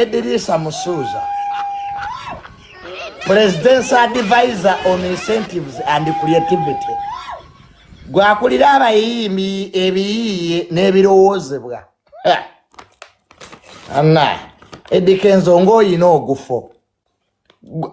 Edirisa Musuuza, President's Advisor on Incentives and Creativity, gwakulira abayimbi ebiyiiye n'ebirowoozebwa. Anna, Eddie Kenzo ng'olina ogufo.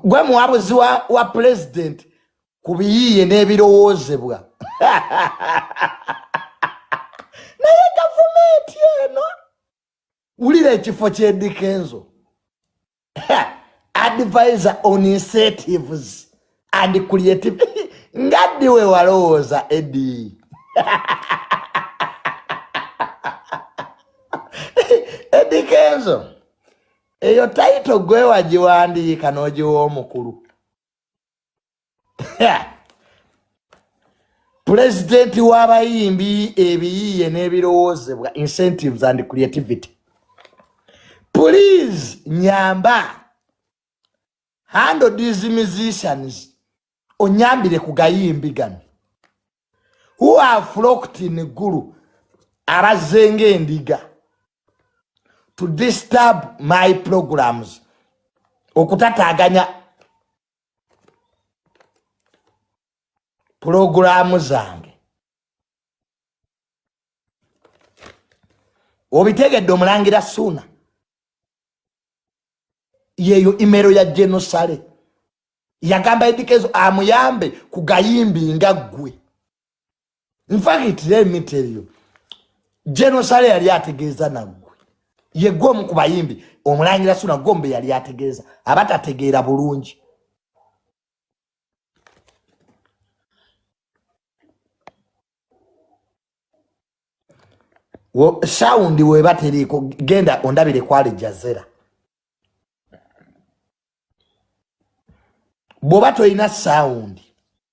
Gwe muwabuzi wa, wa President ku biyiiye n'ebirowoozebwa. Naye gavumenti eno wulira ekifo kyedikenzo advisor on incentives and creative nga ddi we walowooza edi edi kenzo eyo tayito gwewagiwandiika n'ogiwa omukulu pulezidenti w'abayimbi ebiyiiye n'ebirowoozebwa incentives and creativity please nyamba handle these musicians onyambire ku gayimbi gano who are flocked in gulu abazzenga endiga to disturb my programs okutataganya pulogulaamu zange obitegedde omulangira suuna yeeyo imero ya genosale yagamba edikezo amuyambe ku gayimbi nga ggwe nfakit let me tell you genosale yali ategeeza naggwe yegwe omu ku bayimbi omulangira suna gombe yali ategeeza abatategeera bulungi sawundi weba teriiko genda ondabire kwali jazera bwoba tolina sawundi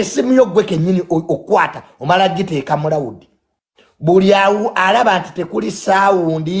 esimu yo gwe kenyini okwata omala giteeka mulawudi buli awo alaba nti tekuli saawundi